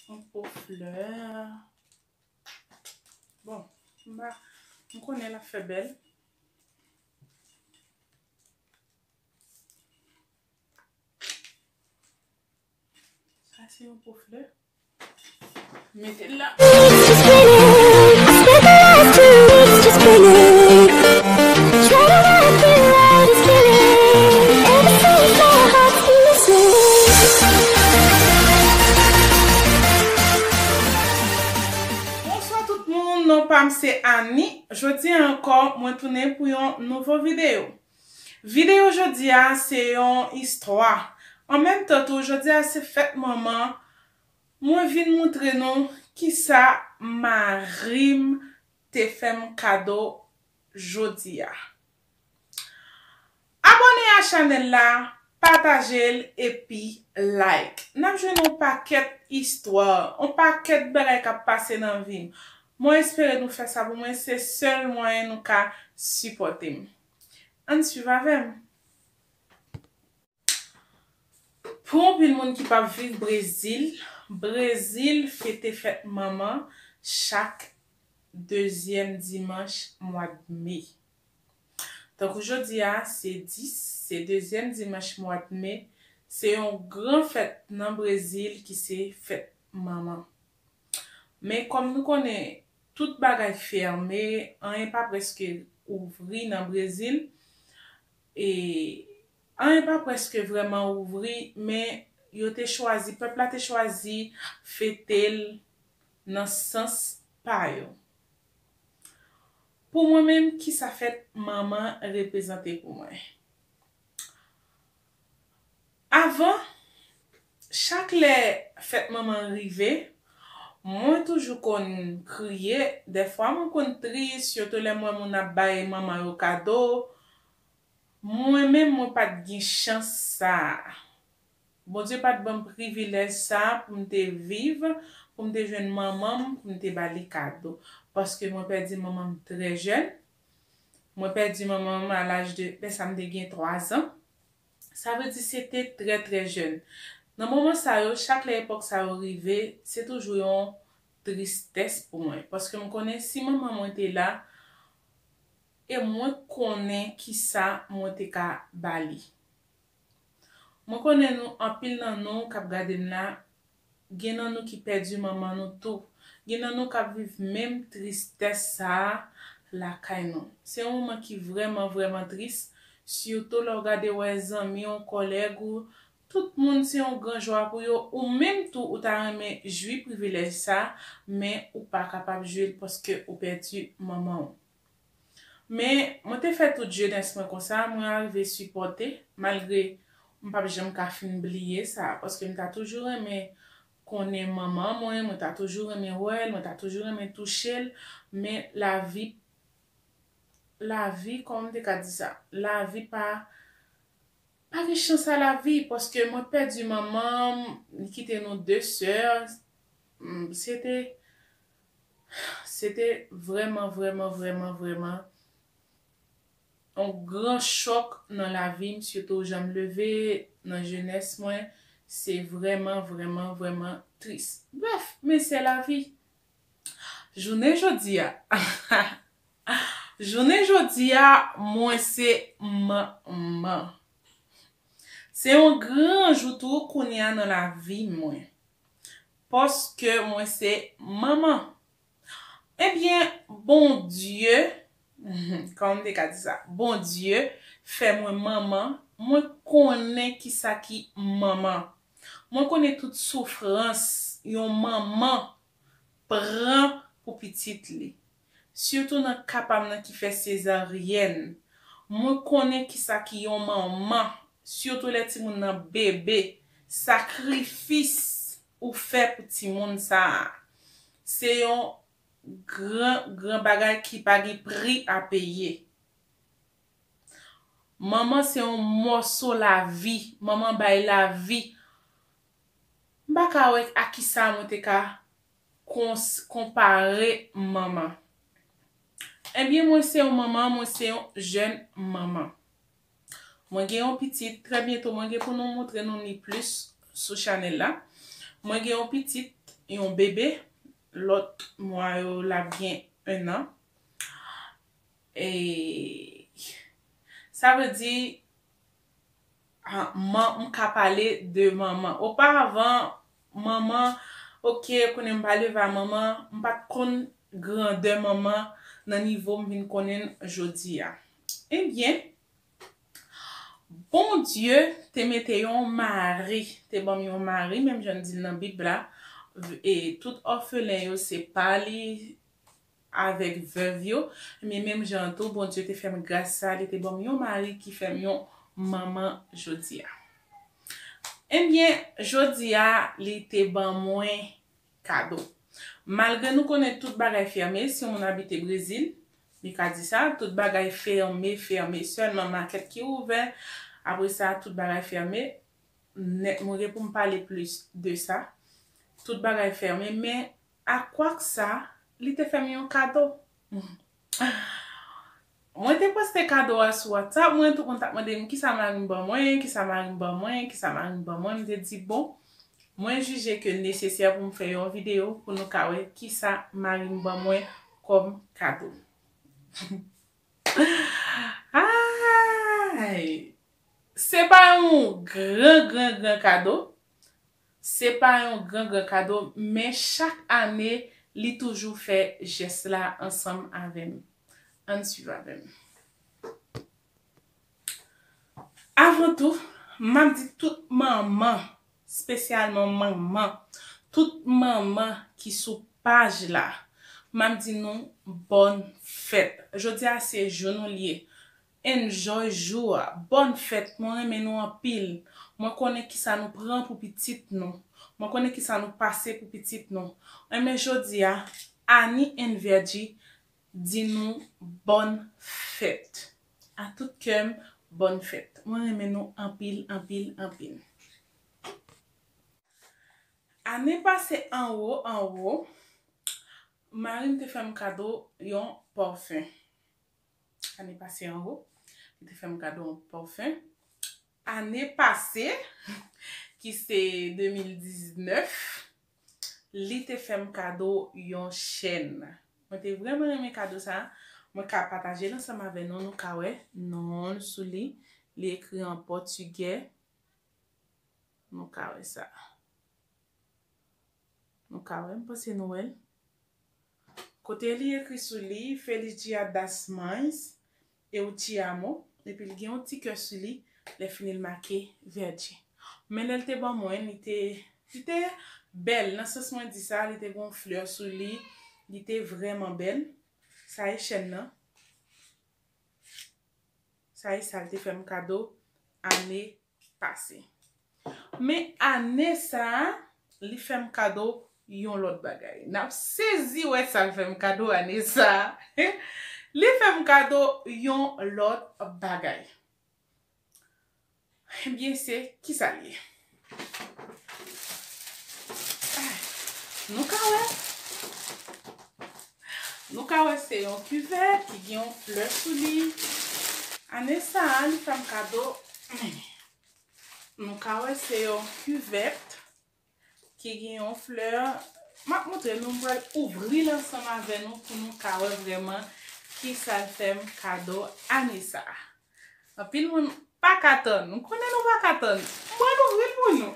Yon po flè. Bon, m konnen l ap fè bèl. Sa se yon po flè. Mete l Bonswa tout moun non pam se Annie jodi an ankò mwen tounen pou yon nouvo video Videyo jodi a se yon istwa, an menm tan tou jodi a se fèt manman, mwen vin moutre nou kisa mari m te fè m kado jodi a. Abòne a chanèl la, pataje l epi like. N ap jwenn yon pakèt istwa, yon pakèt bagay k ap pase nan vi m. Mwen espere nou fè sa pou mwen se sèl mwayen nou ka sipòte m ann swiv avè m. Pou anpil moun ki pap viv Brezil, Brezil fete fèt manman chak dezyèm dimanch mwad me. Tankou jodi a se 10, se dezyèm dimanch mwad me, se yon gran fèt nan Brezil ki se fèt manman. Men kòm nou konnen tout bagay fèmen anyen pa prèske ouvri nan Brezil e anyen pa prèske vrèman ouvri men yo te chwazi pèp la te chwazi fete l nan sans pa yo. Pou mwen menm kisa fèt manman reprezante pou mwen? Avan chak lè fèt manman l rive, mwen toujou konn kriye, dèfwa mwen konn tris, sitou lè m wè moun ap bay manman yo kado, mwen menm mwen pa t gen chans sa a. Bondye pa t ban m privilèj sa a pou m te viv, pou m te jwenn manman m pou m te ba li kado, paske mwen pèdi manman m trè jèn, Mwen pèdi manman m a laj de, lè sa m te gen 3 zan. Sa vle di se te trè trè jèn. Nan moman sa yo, chak lè epòk sa yo rive, se toujou yon tristès pou mwen. Paske m konnen si manman mwen te la, e mwen konnen kisa mwen te ka ba li. Mwen konnen nou, anpil nan nou k ap gade m la, Gen nan nou ki pèdi manman nou tou. Gen nan nou k ap viv menm tristès sa a lakay nou. Se yon moman ki vrèman vrèman tris, sitou lè w gade wè zanmi w, kòlèg ou, tout moun se yon gran jwa pou yo, ou menm tou ou ta renmen jwi privilèj sa a, men ou pa kapab jwi l paske ou pèdi manman w. Men, mwen te fè tout jenès mwen konsa, mwen arive sipòte, malgre m p ap janm ka fin bliye sa, paske m ta toujou renmen konnen manman mwen, mwen ta toujou renmen wè l, mwen ta toujou renmen touche l, men lavi, lavi, kòman m te ka di sa, lavi pa, pa gen chans a lavi, paske mwen pèdi manman m, li kite nou de sè, m, se te. Se te vrèman, vrèman, vrèman, vrèman yon gran chòk nan lavi m, sitou jan m leve nan jenès mwen, se vrèman, vrèman, vrèman tris. Brèf, men se lavi. Jounen jodi a, jounen jodi a, mwen se manman. Se yon gran jou tou kounye a nan lavi mwen. Paske mwen se manman. Ebyen Bondye, kòman m te ka di sa, Bondye fè mwen manman, mwen konnen kisa ki manman. Mwen konnen tout soufrans yon manman pran pou pitit li. Sitou nan ka pam nan ki fè sezaryèn. Mwen konnen kisa ki yon manman, sitou lè timoun nan bebe, sakrifis ou fè pou timoun sa a. Se yon gran gran bagay ki pa gen pri a peye. Manman se yon mòso lavi, manman bay lavi. M pa ka wè a kisa mwen te ka konpare manman. Ebyen mwen se yon manman, mwen se yon jèn manman. Mwen gen yon pitit, trè byento mwen gen pou nou moutre nou li plis sou chanèl la. Mwen gen yon pitit, yon bebe, lòt mwa yo l ap gen 1 an. E sa vle di Ah man m ka pale de manman. Oparavan manman ok kounye m pale va manman m pat konn grandè manman nan nivo m vin konnen l jodi a. Ebyen Bondye te mete yon mari, te banm yon mari menm jan l di l nan bib la e tout òfelen yo se pa li avèk vèv yo, ebyen menm jan an tou Bondye te fè m gras sa a, li te ban m yon mari ki fè m yon manman jodi a. Ebyen, jodi a, li te ban mwen kado. Malgre nou konnen tout bagay fèmen, si yon moun abite Brezil, li ka di sa, tout bagay fèmen, fèmen, sèlman makèt ki ouvè, apre sa, tout bagay fèmen, mwen gen pou m pale plis de sa, tout bagay fèmen, men, A kwak sa, li te fè m yon kado. Mwen te poste kado a sou WhatsApp mwen, tout moun t ap mande m kisa mari m ban mwen, kisa mari m ban mwen, kisa mari m ban mwen, m te di bon, mwen jije ke l nesesè pou m fè yon videyo pou nou ka wè kisa mari m ban mwen kòm kado. Aayy! Se pa yon gran gran gran kado, Se pa yon gran gran kado men chak ane li toujou fè jès la ansanm avè m. Ann swiv avè m. Avan tou, m ap di tout manman, spesyalman manman, tout manman ki sou paj la, m ap di nou bòn fèt. Jodi a se jou nou l ye. Enjoy jou a. Bonne fête mwen renmen nou anpil mwen konnen kisa nou pran pou pitit nou mwen konnen kisa nou pase pou pitit nou enben jodia Annie and Viedji di nou bonne fête a tout kèm bonne fête mwen renmen nou anpil anpil anpil. Ane pase anwo anwo marim te fèm kado yon parfum. Ane pase an ho. Li te fèm kado yon parfum. Ane pase. Ki se 2019. Li te fèm kado yon chèn. Mwen te vreman renmen kado sa. Mwen ka pataje l ansanm avè nou. Nou ka wè non l sou li. Li ekri an pòtigè. Nou ka wè sa. Nou ka wè. M panse nou wè l. Kote li ekri sou li, Feliz Dia das Mães, eu te amo, epi li gen yon ti kè sou li, lè fini li make Verde. Men lè li te ban mwen, li te, li te bèl, nan sans mwen di sa, li te gen yon flè sou li, li te vrèman bèl. Sa e chèn nan. Sa e sa li te fè m kado ane pase. Men ane sa a, li fè m kado yon lòt bagay. N ap sezi wè sa l fè m kado ane sa a. Li fè m kado yon lòt bagay. Ebyen, se ki sa l ye? Nou ka wè. Nou ka wè se yon kivè ki gen yon flè sou li. Ane sa a li fè m kado men. Nou ka wè se yon kivèt ki gen yon flè. M ap montre nou, m pral ouvri l ansanm avè nou pou nou ka wè vrèman ki sa l fè m kado ane sa a. Anpil moun paka tann. M konnen nou paka tann. M pral ouvri l pou nou.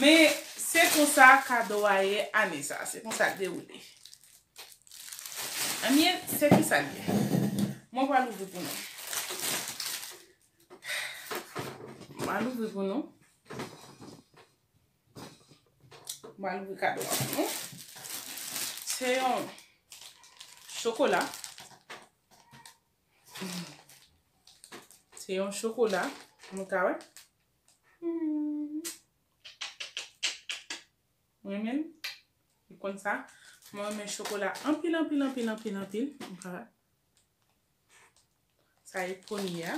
Men, se konsa kado a ye ane sa. Se konsa l dewoule. Anmyee, se kisa l ye? Mwen pral ouvri pou nou. M pral ouvri pou nou. M pral ouvri kado a pou nou. Se yon chokola. Se yon chokola. Nou ka wè. Mwen men. Mwen kon sa. Mwen men chokola. Anpil, anpil, anpil, anpil, anpil. Nou ka wè. Sa e poni ya.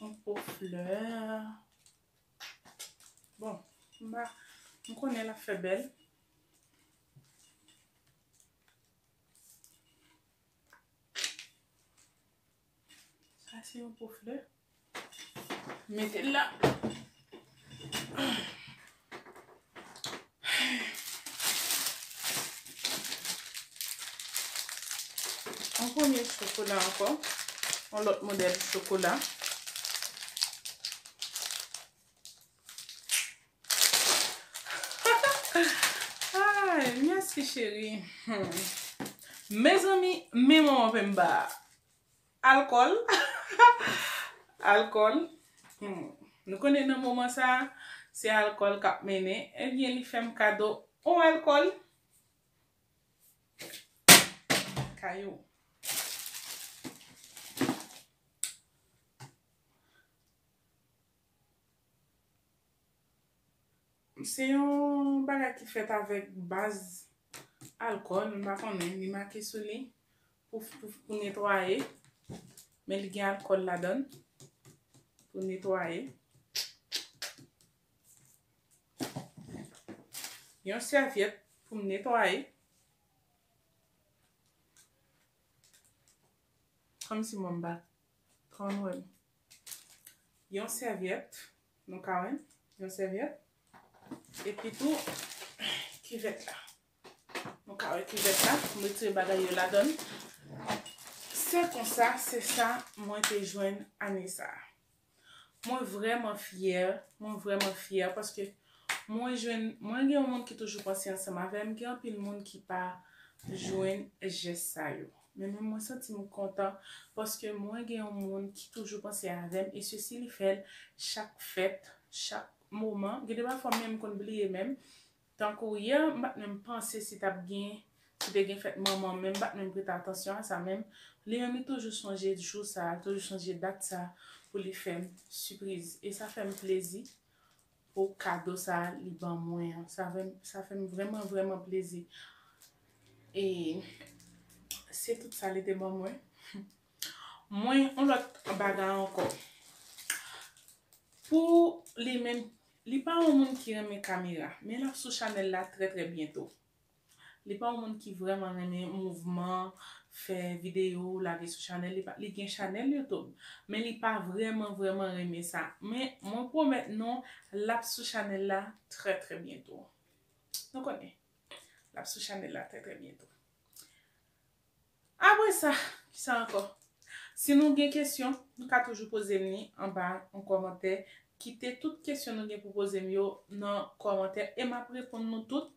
Yon po flè. Bon, mba, m konnen l ap fè bèl. Sa se yon po flè. Mete l la. Yon premye chokola ankò. Yon lòt modèl chokola. Mèsi cheri. Mezanmi, men manman penmba a. Alkòl Alkòl Humm Nou konnen nan moman sa Se alkòl kap mennen Ebyen li fèm kado on alkòl Kayou Se yon bagay ki fèt avèk baz Alkòl m pa konnen li make sou li Pouf pouf pou netwaye. Men li gen alkòl ladann. Pou netwaye. Yon sèvyèt pou m netwaye. Kòm si mwen m pa tròn wè m. Yon sèvyèt. Nou ka wè m. Yon sèvyèt. Epitou kivèt la. Nou ka wè kivèt la, m retire bagay yo ladan l. Se konsa, se sa mwen te jwenn ane sa a. Mwen vrèman fyè, mwen vrèman fyè paske mwen jwenn, mwen gen yon moun ki toujou panse ansanm avè m, gen anpil moun ki pa jwenn jès sa yo. Men menm mwen santi m kontan paske mwen gen yon moun ki toujou panse avè m e se si li fè l chak fèt, chak moman. Gen de pafwa menm m konn bliye menm Tankou yè m pat menm panse si tap gen si te gen fèt manman menm pat menm prete atansyon a sa menm li menm li toujou sonje jou sa li toujou sonje dat sa pou li fèm sipriz e sa fèm plezi pou kado sa li ban mwen an sa fèm vrèman vrèman plezi e se tout sa li te ban mwen. Mwen yon lòt bagay ankò pou li menm li pa yon moun ki renmen kamera men lap sou chanèl la trè trè byento li pa yon moun ki vrèman renmen mouvman fè video lage sou chanèl li li gen chanèl YouTube men li pa vrèman vrèman renmen sa men mwen pwomèt nou lap sou chanèl la trè trè byento nou konnen lap sou chanèl la trè trè byento. Apre sa, ki sa ankò? Si nou gen kesyon, nou ka toujou poze m li anba yon kòmantè. Kite tout kesyon nou gen pou poze m yo nan kòmantè e m ap reponn nou tout.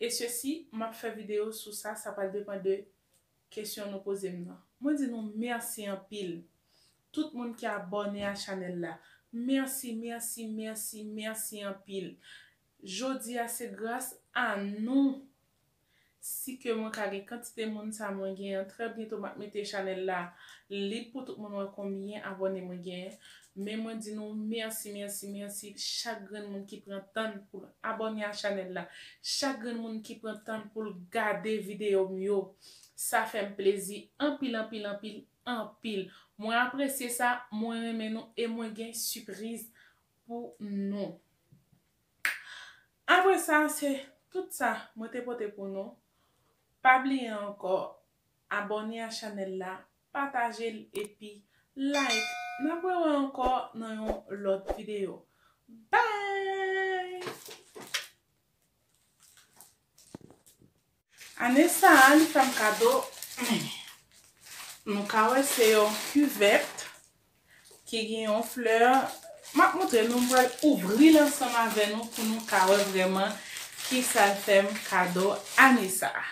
E se si m ap fè videyo sou sa, sa pral depan de kesyon nou poze m nan. Mwen di nou mèsi anpil, tout moun ki abòne a chanèl la. Mèsi, mèsi, mèsi, mèsi anpil. Jodi a se gras a nou Si ke mwen ka gen kantite moun sa mwen gen an trè byento map mete chanèl la lib pou tout moun wè konbyen abòne mwen gen men mwen di nou mèsi mèsi mèsi chak grenn moun ki pran tann poul abòne a chanèl la chak grenn moun ki pran tann poul gade video m yo sa fèm plezi anpil anpil anpil anpil mwen apresye sa mwen renmen nou e mwen gen sipriz pou nou. Apre sa se tout sa mwen te pote pou nou, pa bliye ankò abòne a chanèl la, patajel epi like, nap wewe ankò nan yon lòt video bye! Ane sa a li fèm kado men nou ka wè se yon kivèt ki gen yon flè map moutre nou m pral ouvril ansanm avè nou pou nou ka wè vrèman kisal fèm kado ane sa a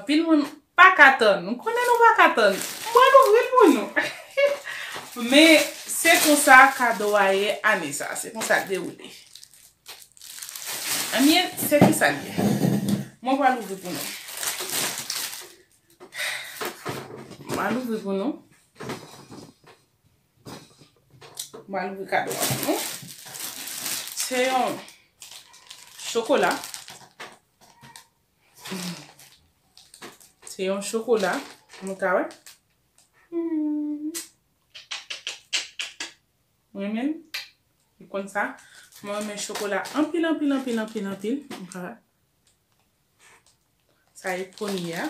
anpil moun paka tann m konnen nou paka tann m pral ouvril pou nou men se konsa kado a ye ane sa a se konsa l dewoule. Anmyee se kisa l ye? Mwen pral ouvri pou nou. Mwen pral ouvri pou nou. Mwen pral ouvri kado a pou nou. Se yon chokola. Se yon chokola. Mwen ka wè. Mwen. M renmen l Li konn sa Mwen renmen chokola anpil anpil anpil anpil anpil M pa Sa e premye a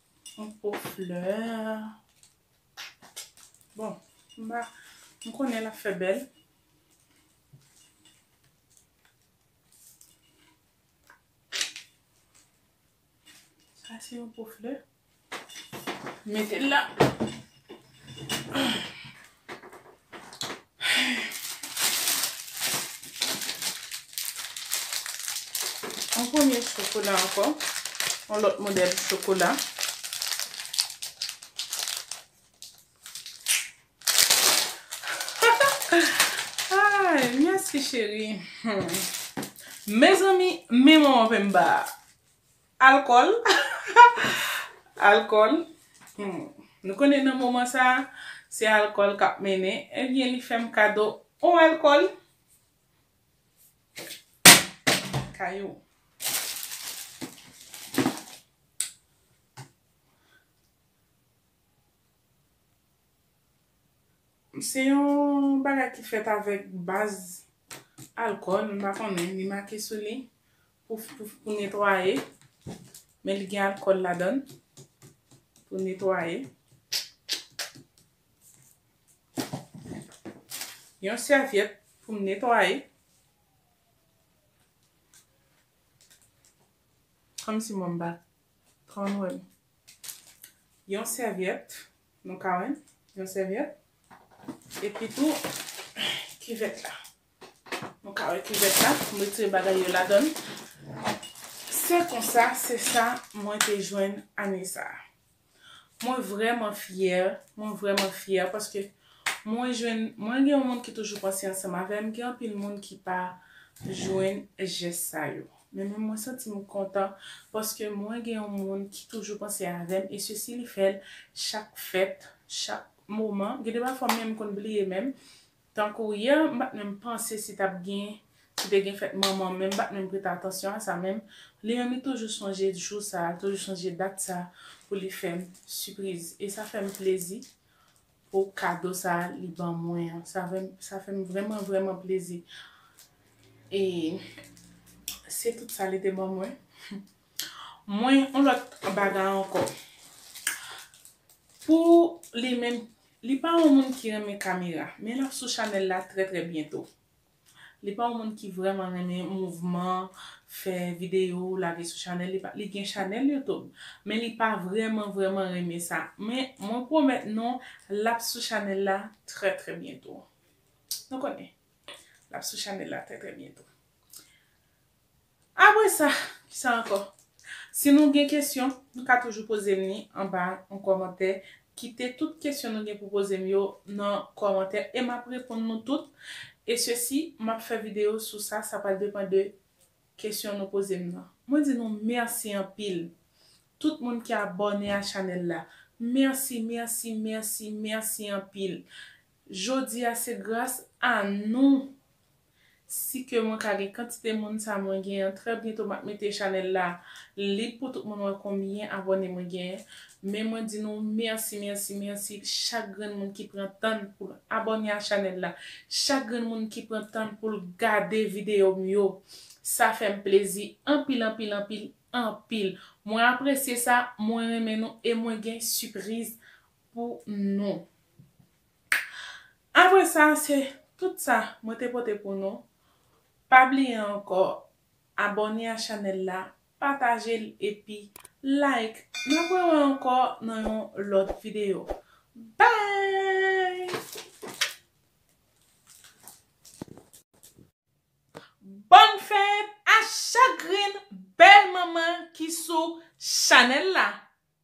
Yon po flè. Bon, m pa, m konnen l ap fè bèl. Sa se yon po flè. Mete l la. Yon premye chokola ankò. Yon lòt modèl chokola. Mèsi cheri. Mezanmi, men manman penmba a. Alkòl, alkòl, humm, nou konnen nan moman sa, se alkòl k ap mennen, ebyen li fè m kado on alkòl. Kayou. Se yon bagay ki fèt avèk baz alkòl, m pa konnen, li make sou li. Pouf pouf pou netwaye. Men li gen alkòl ladann pou netwaye. Yon sèvyèt pou m netwaye. Kòmsi mwen m pa konn wè m. Yon sèvyèt, nou ka wè m. Yon sèvyèt. Epitou kivèt la. Nou ka wè kivèt la, m retire bagay yo ladan l. Se konsa, se sa mwen te jwenn ane sa a. Mwen vrèman fyè, mwen vrèman fyè paske mwen jwenn, mwen gen yon moun ki toujou panse ansanm avè m, gen anpil moun ki pa jwenn jès sa yo. Men menm mwen santi m kontan paske mwen gen yon moun ki toujou panse avè m e se si li fè l chak fèt, chak moman. Gen de pafwa m menm konn bliye menm Tankou yè m pat menm panse si tap gen si te gen fèt manman menm pat menm prete atansyon a sa menm li menm li toujou sonje jou sa li toujou sonje dat sa pou li fèm sipriz e sa fèm plezi pou kado sa li ban mwen an sa fèm vrèman vrèman plezi e se tout sa li te ban mwen. Mwen yon lòt bagay ankò. Pou li menm, li pa yon moun ki renmen kamera, men lap sou chanèl la trè trè byento. Li pa yon moun ki vrèman renmen mouvman, fè videyo, lage sou chanèl li, li gen chanèl YouTube, men li pa vrèman vrèman renmen sa. Men mwen pwomèt nou lap sou chanèl la trè trè byento. Nou konnen, lap sou chanèl la trè trè byento. Apre sa, ki sa ankò? Si nou gen kesyon, nou ka toujou poze m li anba yon kòmantè. Kite tout kesyon nou gen pou poze m yo nan kòmantè e m ap reponn nou tout. E se si m ap fè videyo sou sa, sa pral depan de kesyon nou poze m nan. Mwen di nou mèsi anpil, tout moun ki abòne a chanèl la. Mèsi, mèsi, mèsi, mèsi anpil. Jodi a se gras a nou Si ke mwen ka gen kantite moun sa mwen gen an trè byento map mete chanèl la lib pou tout moun wè konbyen abòne mwen gen men mwen di nou mèsi mèsi mèsi chak grenn moun ki pran tann poul abòne a chanèl la chak grenn moun ki pran tann poul gade video m yo sa fèm plezi anpil anpil anpil anpil mwen apresye sa mwen renmen nou e mwen gen sipriz pou nou. Apre sa se tout sa mwen te pote pou nou, pa bliye ankò abòne a chanèl la, pataje l epi like, n ap wè wè ankò nan yon lòt videyo Bòn fèt a chak grenn bèl manman ki sou chanèl la.